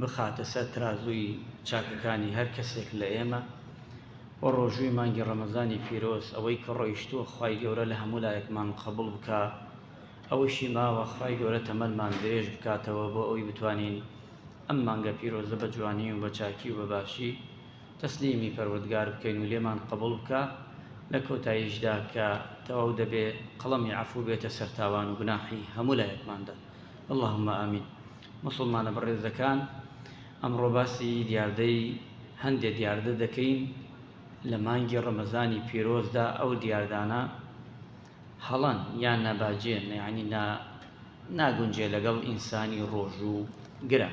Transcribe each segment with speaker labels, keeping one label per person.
Speaker 1: بخاتە سەر ترازووی چاکەکانی هەر کەسێک لە ئێمە و ڕۆژووی مانگی ڕەمەزانی پیرۆز ئەوەی کە ڕۆیشتووە خوای گەورە لە هەموو لایەکمان قەبوڵ بکا ئەوەشی ماوە خوای گەورە تەمەنمان درێژ بکاتەوە بۆ ئەوەی بتوانین ئەم مانگە پیرۆزە بە جوانی و بە چاکی و بە باشی تەسلیمی پەروەردگار بکەین و لێمان قەبوڵ بکا لە کۆتاییشدا کە تەواو دەبێ قەڵەمی عەفوو بێتە سەر تاوان و گوناحی هەموو لایەکماندا اللهم آمین. موسڵمانە بەڕێزەکان، ئەمڕۆ باسی دیاردەی هەندێ دیاردە دەکەین لە مانگی ڕەمەزانی پیرۆزدا ئەو دیاردانە هەڵەن یان ناباجێن یعنی نا ناگونجێ لەگەڵ ئینسانی ڕۆژوو گرە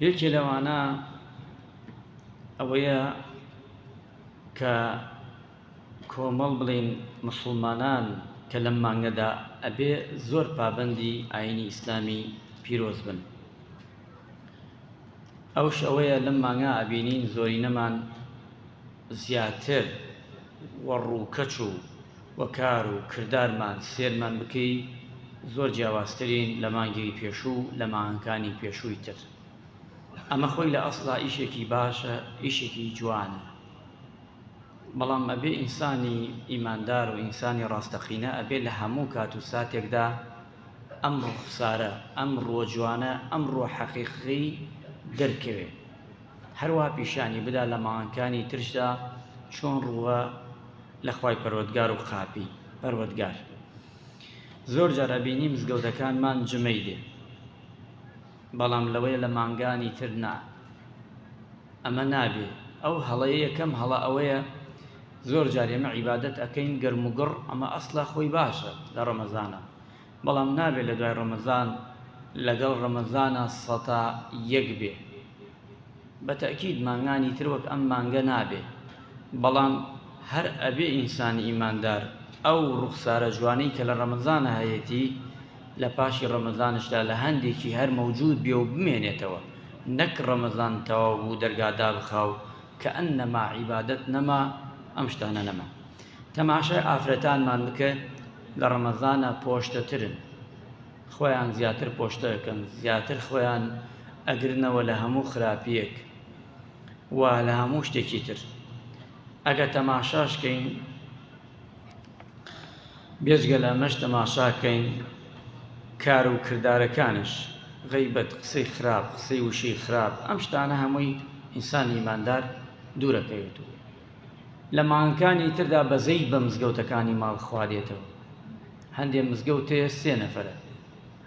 Speaker 1: یەکێ لەوانە ئەوەیە کە کۆمەڵ بڵێین موسڵمانان کە لەم مانگەدا ئەبێ زۆر پابەندی ئاینی ئیسلامی پیرۆز بن ئەوش ئەوەیە لەم مانگا ئەبینین زۆرینەمان زیاتر و ڕووکەچ و وەکار و کردارمان سێرمان بکەی زۆر جیاوازترین لە مانگێکی پێشوو و لە مانگەکانی پێشووی تر ئەمە خۆی لە ئەسڵا ئیشێکی باشە ئیشێکی جوانە بەڵام ئەبێ ئینسانی ئیماندار و ئینسانی ڕاستەقینە ئەبێ لە هەموو کات و ساتێکدا ئەم ڕوخسارە ئەم ڕووە جوانە ئەم ڕووە حەقیقی دەرکەوێ هەروە پیشانی بدا لە ماوانکانی ترشدا چۆن ڕووە لە خی پەروەگار و قاپی پەروەگار زۆر جار ئەبینی مزگەوتەکانمان جمەی دێ بەڵام لەوەیە لە مانگانی تر نا ئەمە نابێ ئەو هەڵەیە یەکەم هەڵە ئەوەیە زۆر جار ئێمە عیبادەت ئەکەین گەرم و گڕ ئەمە ئەسڵە خۆی باشە لە ڕەمەزانە بەڵام نابێ لە دوای ڕەمەزان لەگەڵ ڕەمەزانە سەتا یەک بێ بە تەکیید مانگانی تر وەک ئەم مانگە نابێ بەڵام هەر ئەبێ ئینسانی ئیماندار ئەو ڕوخسارە جوانەی کە لە ڕەمەزانە هەیەتی لە پاشی ڕەمەزانشدا لە هەندێکی هەر مەوجود بێ و بمێنێتەوە نەک ڕەمەزان تەواو بوو دەرگا دابخا و کەئەنەما عیبادەت نەما ئەم شتانە نەما تەماشای ئافرەتانمان بکە لە ڕەمەزانا پۆشتەترن خۆیان زیاتر پۆشتە ئەکەن زیاتر خۆیان ئەگرنەوە لە هەموو خراپیەک و لە هەموو شتێکی تر ئەگە تەماشاشکەین بێجگە لەمەش تەماشاکەین کار و کردارەکانیش غەیبەت قسەی خراپ قسەی وشەی خراپ ئەم شتانە هەمووی ئینسانی ئیماندار دوورەکەوێت و لە مانگەکانی تردا بەزەی بە مزگەوتەکانی ماڵ خوادێتەوە هەندێ مزگەوت هەیە سێ نەفرە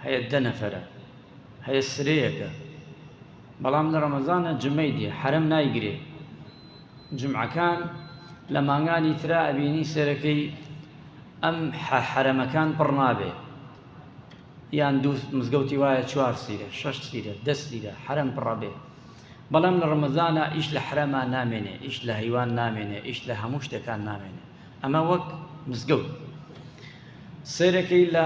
Speaker 1: هەیە دە نەفرە هەیە سرەیەکە بەڵام لە ڕەمەزانە جمەی دێ حرم نایگرێ جومعەکان لە مانگانی ترا ئەبینی سەرەکەی ئەم حەرەمەکان پڕ نابێ یان دوو مزگەوتی وایە چوار سیرە شەش سیرە دە سیرە حەرەم پڕەبێ بەڵام لە ڕمەزانە ئیش لە حرەما نامێنێ ئیش لە هەیوان نامێنێ ئیش لە هەموو شتەکان نامێنێ ئەمە وەک مزگەوت سێرەکەی لە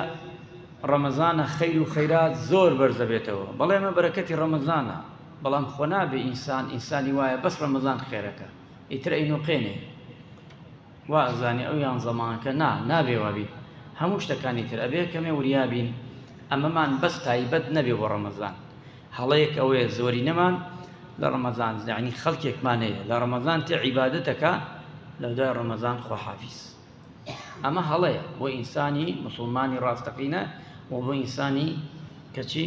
Speaker 1: ڕەمەزانە خەیر و خەیرات زۆر بەرزەبێتەوە بەڵێ ئەمە بەرەکەتی ڕەمەزانە بەڵام خۆ نابێ ئینسان ئینسانی وایە بەس ڕەمەزان خێرەکە ئیتر ئەینوقێنێ وا ئەزانێ ئەو یان زەمانکە نا نابێ وابیت هەموو شتەکانی تر ئەبێ کەمێ وریابین ئەمەمان بەس تایبەت نەبێ بۆ ڕەمەزان هەڵەیەک ئەوەیە زۆرینەمان لە ڕەمەزان زانی خەڵکێکمان هەیە لە ڕەمەزان تێ عیبادەتەکە لە دوای ڕەمەزان خۆحافیز ئەمە هەڵەیە بۆ ئینسانی مسلمانی ڕاستەقینە و بۆ ئینسانی کەچی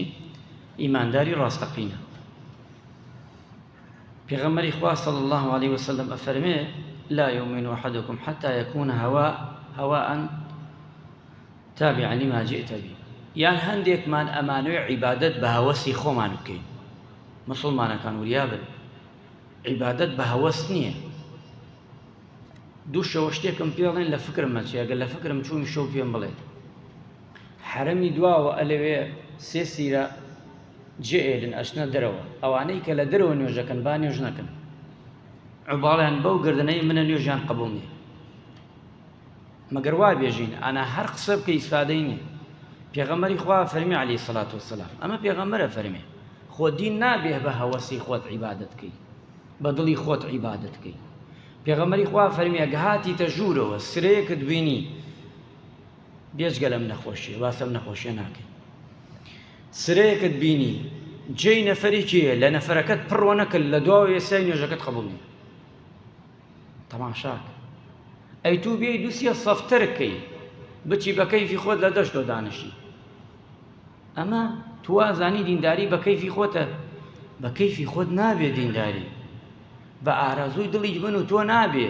Speaker 1: ئیمانداری ڕاستەقینە. پێغەمبەری خوا صلی اللە علیە وسلم ئەفەرمێ لا یؤمن احدکم حتی یکون هوا هواء تابعا لما جئت به یان هەندێکمان ئەمانوێ عیبادەت بە هەوەسی خۆمان بکەین مسلمانەکان وریابن عیبادەت بە هەوەست نییە دوو شەوە شتێکم پێڵێن لە فکرم مەچێگە لە فکرم چووی شەو پێم بڵێت حەرەمی دواوە ئەلەوێ سێ سیرە جێ ئێلن ئەچنە دەرەوە ئەوانەی کە لە دەرەوە نوێژەکەن با نوێژ نەکەن عوباڵیان بەو گردنەی منە نوێژیان قبول نیە مەگەر وا بێژین ئانا هەر قسە بکە ئیسفادەی نیە پێغەمەری خوا فەرمی علی سەلات وسلام ئەمە پێغەمەرە فەرمێ خۆ دین نابێ بە هەوەسی خۆت عیبادت بکەی بە دڵی خۆت عیبادت بکەی پێغەمەری خوا فەرمیە گەهاتی تە ژوورەوە سرەیەکت بینی بێجگە لەم نەخۆشیە باسەم نەخۆشیە ناکەین سرەیەکت بینی جێی نەفەری کێە لە نەفرەکەت پڕوە نەکرد لە دواوە ئێسای نوێژەکەت قبولی تەماشاک ئەی تو بێ دوسیە سەفتەرکەی بچی بە کەیفی خۆت لە دەشتۆ دانیشی ئەمە توازانی دینداری بە کەیفی خۆتە بە کەیفی خۆت نابێ دینداری بە ئارەزووی دڵی من و تۆ نابێ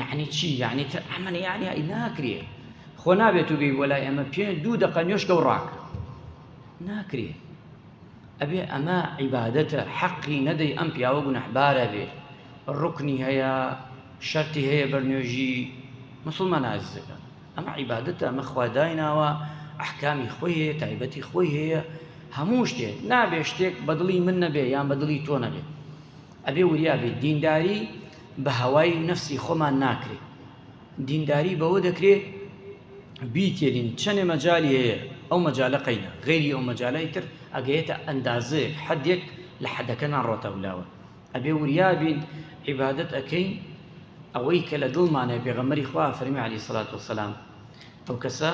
Speaker 1: یەعنی چی یەعنی تر ئەمن یەعنی ئەی ناکرێ خۆ نابێت و بێی وەلای ئەمە پێ دوو دەقە نوێشکە و ڕاکە ناکرێ ئەبێ ئەمە عیبادەتە حەقی نەدەی ئەم پیاوە گونەحبارە بێ ڕکنی هەیە شەرتی هەیە بەرنوێژی مسلمان نازەکە ئەمە عیبادەتە ئەمە خوا دایناوە ئەحکامی خۆی هەیە تایبەتی خۆی هەیە هەموو شتێک نابێ شتێک بەدڵی من نەبێ یان بەدڵی تۆ نەبێت ئەبێ وریا بێت دینداری بە هەوای نەفسی خۆمان ناکرێ دینداری بەوە دەکرێ بیتێلین چەنێ مەجالی هەیە ئەو مەجالە قەینە غەیری ئەو مەجالای تر ئەگەیەتە ئەندازەیەک حەدێک لە حەدەکە ناڕۆتە ولاوە ئەبێ وریابین عیبادت ئەەکەین ئەوەی کە لە دڵمانە پێغەمەری خوا فەرمی علی سلات وسلام ئەو کەسە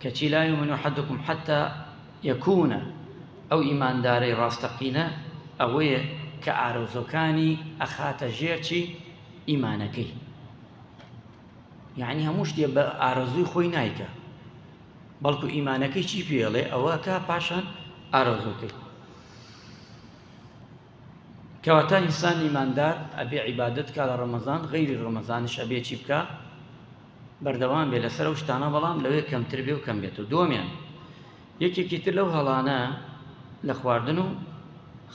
Speaker 1: کەچی لای من و حدکم حتا یەکوون، ئەو ئیماندارەی ڕاستەقینە ئەوەیە کە ئارەزووەکانی ئەخاتە ژێر چی؟ ئیمانەکەی. یەعنی هەموو شتێ بە ئارەزووی خۆی نایکا. بەڵکو ئیمانەکەی چی پێڵێ ئەوە کا پاشان ئارەزووکەی. کەواتە ئینسان ئیماندار ئەبێ عیبادەت کا لە ڕەمەزان غەیری ڕەمەزانش ئەبێ چی بکا؟ بەردەوام بێت لەسەر ئەو شتانە بەڵام لەوێ کەمتر بێ و کەم بێت و دووەمیان یەکێکی تر لەو هەڵانە لە خواردن و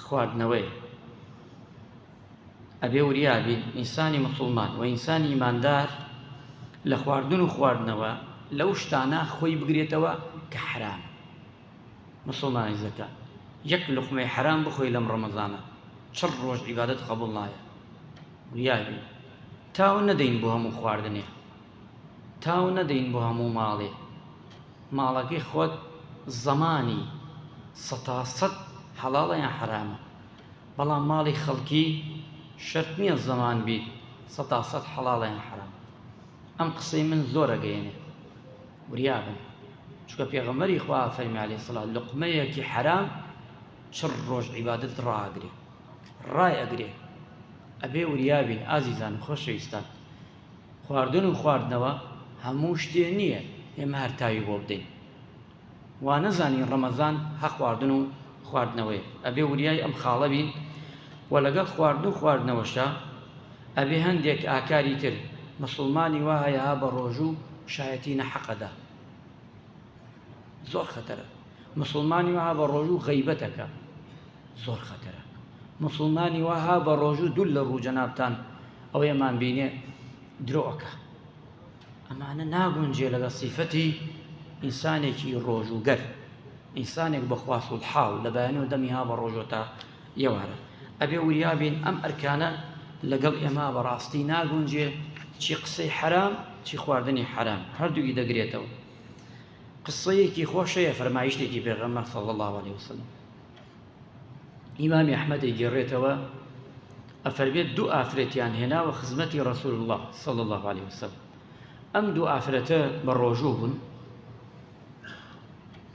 Speaker 1: خواردنەوەی ئەبێ وریابین ئینسانی مسلمان و ئینسانی ئیماندار لە خواردن و خواردنەوە لەو شتانە خۆی بگرێتەوە کە حرام مسلمانی زەکە یەک لقمەی حرام بخۆی لەم ڕەمەزانە چڕ ڕۆژ عیبادەت قبول نایە وریابین تاو نەدەین بۆ هەموو خواردنێ. تاو نەدەین بۆ هەموو ماڵێ. ماڵەکەی خۆت زەمانی سەتا سەد حەڵاڵە یان حەرامە. بەڵام ماڵی خەڵکی شەرت نییە زەمان بیت سەتا سەد حەڵاڵە یان حەرام. ئەم قسەی من زۆر ئەگەیەنێ. وریا بن. چونکە پێغەمبەری خوا فەرمی علیە سڵاو لوقمەیەکی حەرام چڕ ڕۆژ عیبادەتت ڕائەگرێ. ڕایئەگرێ. ئەبێ وریا بین ئازیزان و خۆشەویستان. خواردن و خواردنەوە هەموو شتێ نییە ئێمە هەر تاوی بۆ بدەین. وانەزانین ڕەمەزان هە خواردن و خواردنەوەیە. ئەبێ وریای ئەم خاڵە بین و لەگەڵ خواردن و خواردنەوەشا ئەبێ هەندێک ئاکاری تر. موسڵمانی وا هەیە ها بە ڕۆژوو شایەتی نەحەق ئەدا. زۆر خەتەرە. موسڵمانی وا هە بە ڕۆژوو غەیبەت ئەکا. زۆر خەتەرە موسڵمانی واها بە ڕۆژوو دوول لە ڕوو جەنابتان ئەوەی ئەمان بینێ درۆ ئەکا ئەمانە ناگونجێ لەگە سیفەتی ئینسانێکی ڕۆژووگەر ئینسانێک بەخواست و حاو لە بەیانی و دەمی ها بە ڕۆژۆتا یێوارە ئەبێ وریابین ئەم ئەرکانە لەگەڵ ئێمە بەڕاستی ناگونجێ چی قسەی حرام چی خواردنی حرام هەردووی دەگرێتەوە قسەیەکی خۆشەیە فەرمایشتێکی پێغەمەر صلی الله عليه وسلم ئیمامی ئەحمەد دەیگێڕێتەوە ئەفەرمێت دوو ئافرەتیان هێناوە خزمەتی ڕسول الله صلی الله عليه وسلم ئەم دوو ئافرەتە بە ڕۆژوو بوون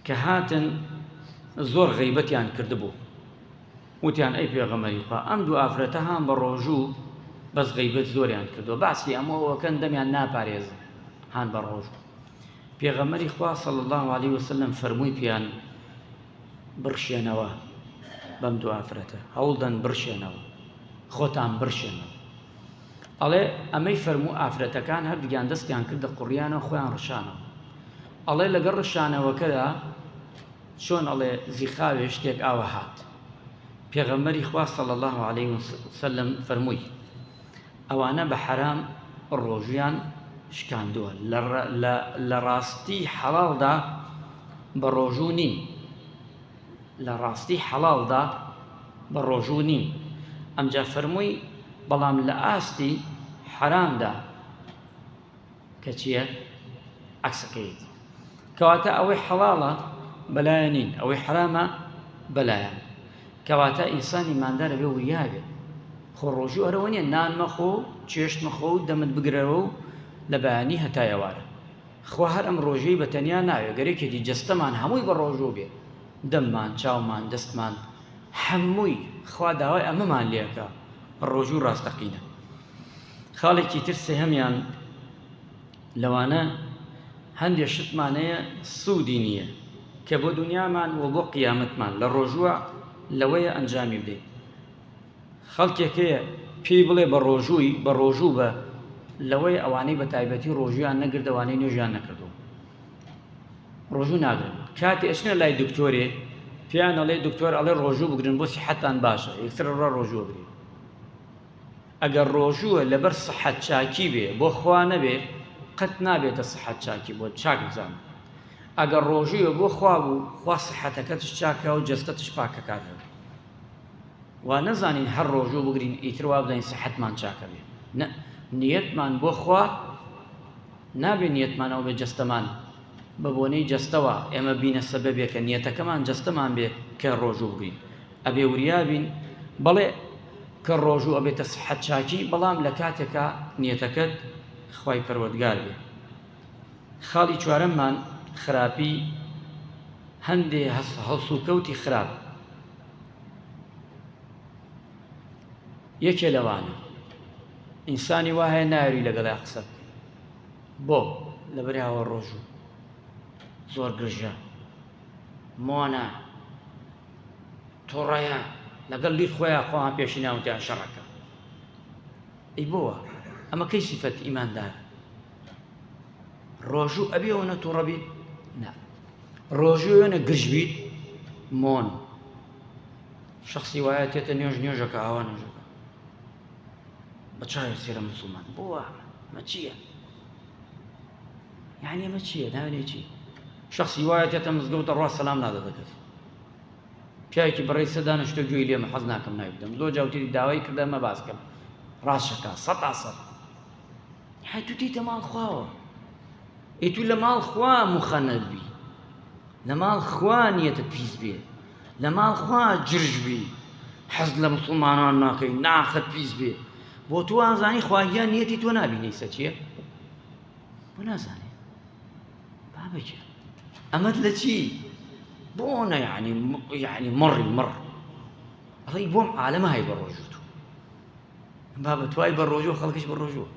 Speaker 1: کە هاتن زۆر غیبەتیان کردبوو وتیان ئەی پێغەمەری خوا ئەم دوو ئافرەتە هاان بە ڕۆژوو بەس غیبەت زۆریان کردو باسی ئەمەوەکەن دەمیان ناپارێزن هاان بە ڕۆژوو پێغەمەری خوا صلی الله عليه وسلم فەرمووی پیان بڕشێنەوە بەم دوو ئافرەتە هەوڵدەن بڕشێنەوە خۆتان بڕشێنەوە ئەڵێ ئەمەی فەرموو ئافرەتەکان هەردوگیان دەستیان کردە قڕیانە خۆیان ڕشانەوە ئەڵێ لەگەڵ ڕشانەوەکەدا چۆن ئەڵێ زیخاوێ شتێک ئاوە هات پێغەمەری خواستە لە الله عليه وسلم فەرمووی ئەوانە بە حەرام ڕۆژویان شکاندووە لە ڕاستی حەڵاڵدا بە ڕۆژوو نین لە ڕاستی حەڵاڵدا بە ڕۆژوو نین ئەمجا فەرمووی بەڵام لە ئاستی حەرامدا کە چییە عەکسەکەیەتی کەواتە ئەوەی حەڵاڵە بەلایە نین ئەوەی حرامە بەلایان کەواتە ئینسان ئیماندارە بێ وریاێ خۆ ڕۆژوو هەرەوە نیە نان مەخۆ چێشت مەخۆ و دەمت بگرەوە و لە بەیانی هەتایەوارە خوا هەر ئەم ڕۆژەی بە تەنیا ناوێ گەرێکێتی جستەمان هەمووی بە ڕۆژوو بێ دەممان چاومان دەستمان هەمووی خوا داوای ئەمەمان لێکە ڕۆژوو ڕاستەقینە خاڵێکی تر سێهەمیان لەوانە هەندێ شتمان هەیە سوودی نییە کە بۆ دونیامان و بۆ قیامەتمان لە ڕۆژووە لەوەیە ئەنجامی بدەین خەڵکێک هەیە پێی بڵێ بە ڕۆژووی بە ڕۆژوو بە لەوەی ئەوانەی بە تایبەتی ڕۆژویان نەگردەوانەی نوێژیان نەکردووە ڕۆژوو ناگرن کاتی ئەچنە لای دکتۆرێ پێیان ئەڵێ دکتۆر ئەڵێ ڕۆژوو بگرن بۆ سیحەتان باشە یەکسرە ڕۆژوو بگرن ئەگەر ڕۆژووە لەبەر سحەت چاکی بێ بۆ خوا نەبێ قەت نابێتە سحەت چاکی بۆت چاک بزانە ئەگەر ڕۆژووە بۆ خوا بوو خوا سحەتەکەتش چاکە و جەستەتش پاکەکاتەوە وا نەزانین هەر ڕۆژوو بگرین ئیتر وا بدەین سحەتمان چاکە بێ نە نیەتمان بۆ خوا نابێ نیەتمانەوە بێ جەستەمان بە بۆنەی جەستەوە ئێمە بینە سەبەبێ کە نیەتەکەمان جەستەمان بێ کە ڕۆژوو بگرین ئەبێ وریابین بەڵێ کە ڕۆژوو ئەبێتە سحەت چاکی بەڵام لە کاتێکا نیەتەکەت خوای پەروەردگار بێ خاڵی چوارەممان خراپی هەندێ هەڵسوکەوتی خراپ یەکێ لەوانە ئینسانی وایە ناوی لەگەڵای قسە بۆ لە بەراوە ڕۆژوو زۆر گرژە مۆنە تۆڕەیان لەگەڵ لیر خۆیان خۆیان پێشی ناوتیان شەڕەکە ئەی بۆوە ئەمە کەی سیفەت ئیماندار ڕۆژوو ئەبێ ئەوەنە تووڕە بیت نا ڕۆژوو وێنە گرژ بیت مۆن شخصی وایە تێتە نوێژ نوێژەکە ئاوا نوێژەکە بە چاوی سێرە مسلمان بۆوە مەچیە یەعنی ئەمە چیە ناوێنێ چی شەخسی وایە تێتە مزگەوتە ڕوا سەلام نادە بە کەس پیاوێکی بەڕێز سەدا نەشتە گوێی لێمە حەز ناکەم ناوی بدەم لۆ جاوتری داوای کردە مە باس کەم ڕاشەکە سەد ئاسەد هەی تو تێتە ماڵ خواوە ئێ تو لە ماڵ خوا مخەنەر بی لە ماڵ خوا نیەتە پیس بێ لە ماڵ خوا جرژ بی حەز لە مسلمانان ناکەی ناخت پیس بێ بۆ تو ئازانی خواگیان نیەتی تۆ نابینەی سەچیە بۆ نازانێ بابە گیان ئەمەت لە چی بۆ نە یعنی یعنی مڕی مڕ ئەڵی بۆم عالەمە هەی بە ڕۆژوو تو بابە توای بە ڕۆژوو خەڵکیش بە ڕۆژوو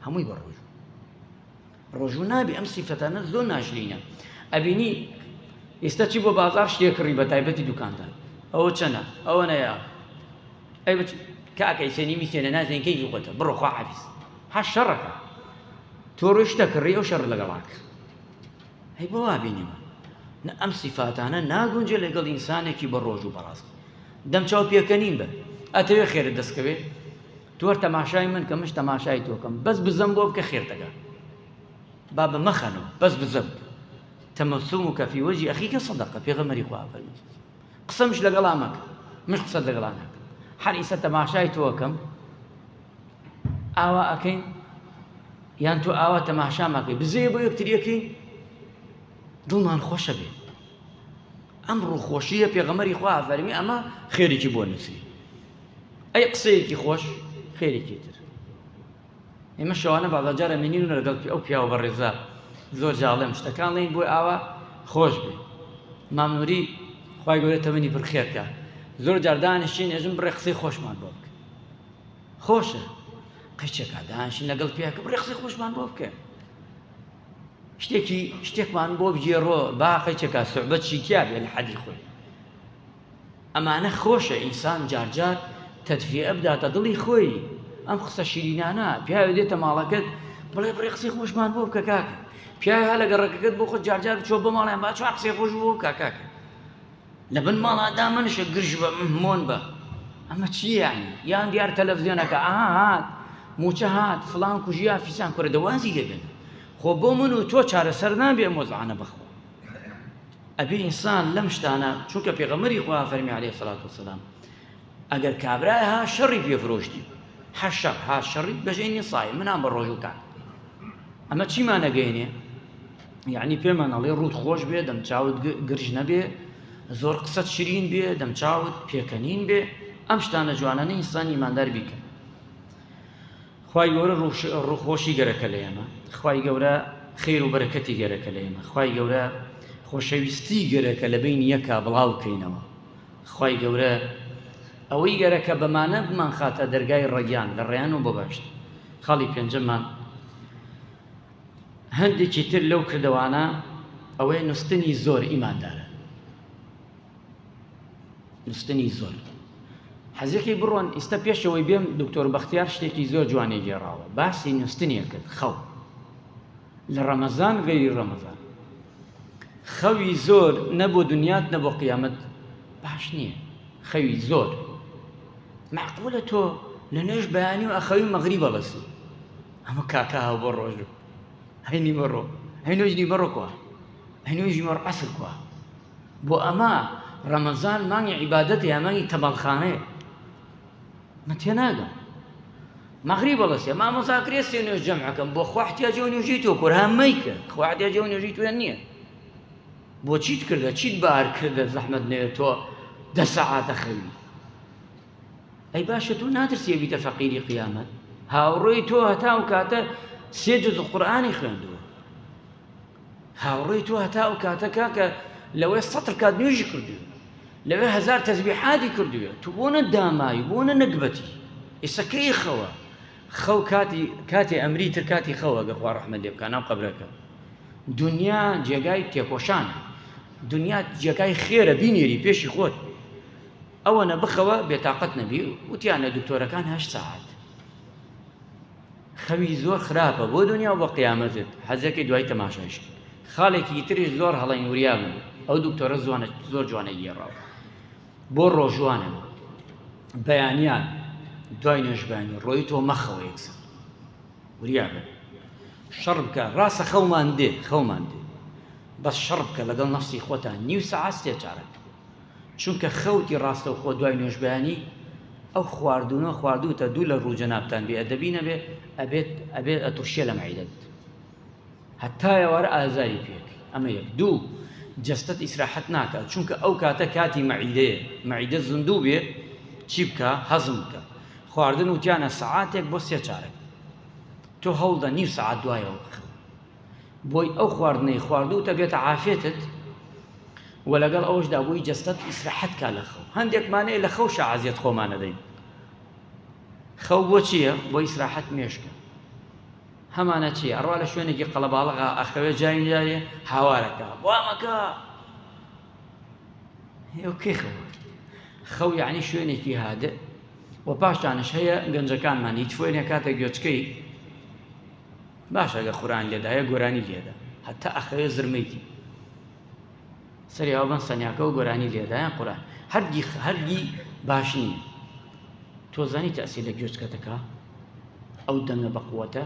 Speaker 1: هەمووی بە ڕۆژوو ڕۆژوو نابێ ئەم سیفەتانە زۆر ناشرینە ئەبینی ئێستا چی بۆ بازار شتێک کڕی بە تایبەتی دوکاندار ئەوە چەنە ئەوە نەیە ئەی بچ کاکەی سێنی میسێنە نازێنکەی زووقەتە بڕۆ خواحافیز هە شەڕەکە تۆ ڕۆشتە کڕی ئەو شەڕ لەگەڵاکە هەی بۆ وابینیوە نە ئەم سیفاتانە ناگونجێ لەگەڵ ئینسانێکی بە ڕۆژ و بەڕاست دەم چاو پێکەنین بە ئەتەوێ خێرە دەستکەوێ تۆر تەماشای من کە مش تەماشای تۆکەم بەس بزەم بۆ بکە خێر دەگا با بە مەخەنەوە بەس بزەم تەمەسوم و کەفی وەجی ئەخیکە سەدەقە پێغەمەری خوا فەرمی قسەمش لەگەڵا مەکە مش قسەت لەگەڵا ناکە هەر ئیسە تەماشای تۆکەم ئاوا ئەکەین یان تۆ ئاوا تەماشاماکەی بزێ بۆ یەکتریەکەین دڵمان خۆشە بێ ئەم ڕووخۆشیە پێغەمەری خوا فەرمی ئەمە خێریکی بۆ نووسی ئەی قسەیەکی خۆش خێریکی تر ئێمە شەوانە بەڵاجارە منین و لەگەڵ ئەو پیاوە بە ڕێزا زۆر جاڵێم شتەکان لەین بۆی ئاوا خۆش بێ مامنوری خی گەورە تەمەنی بڕخێرکە زۆر جاردانشین ئێژم بڕێ قسەی خۆشمان بۆ بکە خۆشە قەیچەکە دانشین لەگەڵ پیاکە بڕێ قسەی خۆشمان بۆ بکەن شتێکی شتێکمان بۆ بگێڕۆ با قەیچەکە سوعبەت شیتیا بێ لە حەدی خۆی ئەمانە خۆشە ئینسان جارجار تەدفێ ئەبداتە دڵی خۆی ئەم قسە شیرینانە پیاوێ دێتە ماڵەکەت بڵێ بڕێ قسەی خۆشمان بۆ بکە کاکە پیاوە لەگە ڕێکەکەت بۆ خۆ جارجار چۆ بە ماڵیان با چوار قسەی خۆش بۆ کاکاکە لە بن ماڵا دامنشە گرژ بە مۆن بە ئەمە چی یانی یان دیار تەلەڤزیۆنەکە ئاها هات موچە هات فلان کوژیا فیسان کورە دەوازی لێبێن خۆ بۆ من و تۆ چارەسەر نابێ مۆزعانە بەخۆ ئەبێ ئینسان لەم شتانە چونکە پێغەمەری خوا فەرمی عليه سلاات وسلام ئەگەر کابرای ها شەڕی پێ فرۆشتی حەشەق ها شەڕی بەژێنی سای منان بە ڕۆژوو کات ئەمە چیمانەگەێنێ یەعنی پێمان ئەڵێ ڕووت خۆش بێ دەم چاوت گرژ نەبێ زۆر قسەت شرین بێ دەم چاوت پێکەنین بێ ئەم شتانە جوانانە ئینسانی مادار بیکە خی گەورە ڕوخۆشی گەرەکە لە ئێمە خی گەورە خێر و بەرەکەتی گەرەکە لە ئێمە خی گەورە خۆشەویستی گەرەکە لە بین یەکە بڵاو بکەینەوە خی گەورە ئەوەی گەرەکە بەمانە بمان خاتە دەرگای ڕەگیان لە ڕێیان و بەباشت خاڵی پێنجەمان هەندێکی تر لەو کردەوانە ئەوەیە نوستنی زۆر ئیماندارە نوستنی زۆر حەزیەکەی بڕۆن ئیستا پێشەوەی بێم دکتۆر بەختیار شتێکی زۆر جوانی گێڕاوە باسی نوستنیە کرد خەو لە ڕەمەزان غەیری ڕەمەزان خەوی زۆر نەبوو دنیات نەبوو قیامەت باش نییە خەوی زۆر معقولە تۆ لە نوێش بەیانی و ئەخەوی مەغری بەڵەسی ئەمە کاکە هاو بۆ ڕۆژ هەی نیوە ڕۆ هەی نوێژ نیوە ڕۆکوە هەی نوێژ نیوە عەسر کوە بۆ ئەمە ڕەمەزان مانگی عیبادەت یا مانگی تەماڵخانەیە من تێ ناگەم مەغری بەڵەسێ مامۆسا کرێ سێ نوێژ جەمعەکەم بۆ خوحتیا جێ نوێژی تۆ کورها مەیکە خوحتیا جێ نوێژی توێن نییە بۆ چیت کردە چیت بار کردە زەحمەت نوێ تۆ دە سەعاتە خەوی ئەی باشە تۆ ناترسی بیتە فەقیری قیامەت هاوڕێی تۆ هەتا ئەو کاتە سێ جز قورآانی خوێندووە هاوڕێی تۆ هەتا ئەو کاتە کاکە لەوەی سەتر کات نوێژی کردو لەوێ هزار تەزبیحاتی کردوێت تو بۆ نە داماوی بۆ نە نەگبەتی ئێسەکەی خەوە خەو کاتی کاتی ئەمری تر کاتی خەوە گە خوا ڕحمە لێ بکە ناو قبرەکە دنیا جێگای تێکۆشان دنیا جێگای خێرە بینێری پێشی خۆت ئەوەنە بخەوە بێتاقەت نەبی وتیانە دکتۆرەکان هەشت ساعت خەوی زۆر خراپە بۆ دنیا و بە قیامەتت حەزەکەی دوای تەماشایش خاڵێکی تریش زۆر هەڵین وریا بوو ئەو دکتۆرە زوانە زۆر جوانە گێڕاو بۆ ڕۆژوانە بەیانیان دوای نوێژبانی ڕۆی تۆ مەخەوە یەکسە وریا بن شەڕ بکە ڕاستە خەومان دێ خەومان دێ بەس شەڕ بکە لەگەڵ نەفسی خۆتان نیو سەعات سێ چارەکە چونکە خەوتی ڕاستەوخۆ دوای نوێژبەیانی ئەو خواردوونە خواردووتە دوو لە ڕوو جەنابتان بێ ئەدەبی نەبێ ئەبێت ئەبێت ئەترشێ لە مەعیدەت هەتا ئێوارە ئازاری پێک ئەمە یەک دوو جەستەت ئیسراحەت ناکات چونکە ئەو کاتە کاتی مەعیدەیە مەعیدە زندوو بێ چی بکە هەزم بکە خواردن وتیانە سەعاتێک بۆ سێ چارەک تۆ هەوڵدە نیو سەعات دوایەوە بخەوە بۆی ئەو خواردنەی خواردووتە بێتە عافێتت و لەگەڵ ئەوەشدا بۆی جەستەت ئیسراحەت کا لە خەو هەندێکمانەیە لە خەو شەعازیەت خۆمانەدەین خەو بۆ چییە بۆ ئیسراحەت مێشکە هەمانە چی ئەڕوا لە شوێنێکی قەڵەباڵغا ئەخەوێ جاین جارێ هاوارەکە وامەکە کێ خەو خەو یعنی شوێنێکی هادە و پاشتانش هەیە گەنجەکانمان هیچ فۆێنە کاتە گوێچکەی باش ئەگەر قورئان لێدایە گۆرانی لێدە هەتا ئەخەوێ زرمەی دی سەری ئەوە بەن سەنیاکەەوە گۆرانی لێدایان قورئان هەرگی هەرگی باش نییە تۆزانی تەسی لە گوێچکەتەکە ئەو دەنگە بەقوەتە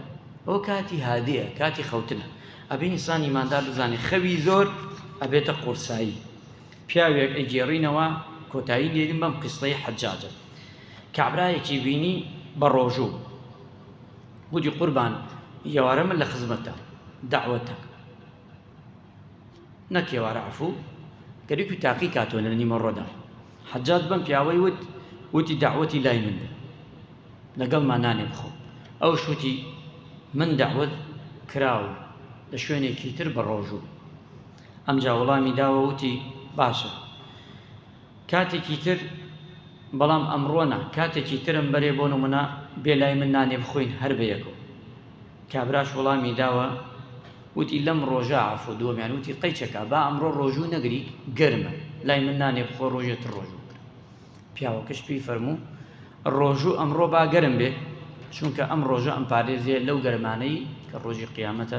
Speaker 1: ئەو کاتی هادەیە کاتی خەوتنە ئەبێ ئینسانی مادا بزانێت خەوی زۆر ئەبێتە قورسایی پیاوێک ئەگێڕینەوە کۆتایی لێریم بەم قستەی حەجاجە کابراایەکی بینی بە ڕۆژوو گوتی، قوربان ئێوارە من لە خزمەتام، دەعوەتە نەک ئێوارە عەفوو، گەری و تاقی کاتەوە لە نیمەڕۆدا. حەجاج بەم پیاوەی وت، وتی دەعوەتی لای من بێ، لەگەڵمان نانێ بخۆ. ئەوش وتی، من دەعوەت کراوم لە شوێنێکی تر بە ڕۆژوو. ئەمجا وڵامی داوە وتی، باشە. کاتێکی تر بەڵام ئەمڕۆ نا کاتێکی ترم بەرێ بۆ نمونە بێ لای من نانێ بخۆین هەر بەیەکەوە کابراش وڵامی داوە وتی لەم ڕۆژە عفو دووەمیان وتی قەیچەکە با ئەمڕۆ ڕۆژوو نەگری گەرمە لای من نانێ بخۆ ڕۆژێ تر ڕۆژوو بکە پیاوەکەش پێی فەرموو ڕۆژوو ئەمڕۆ با گەرم بێ چونکە ئەم ڕۆژە ئەم پارێزێ لەو گەرمانەی کە ڕۆژی قیامەتە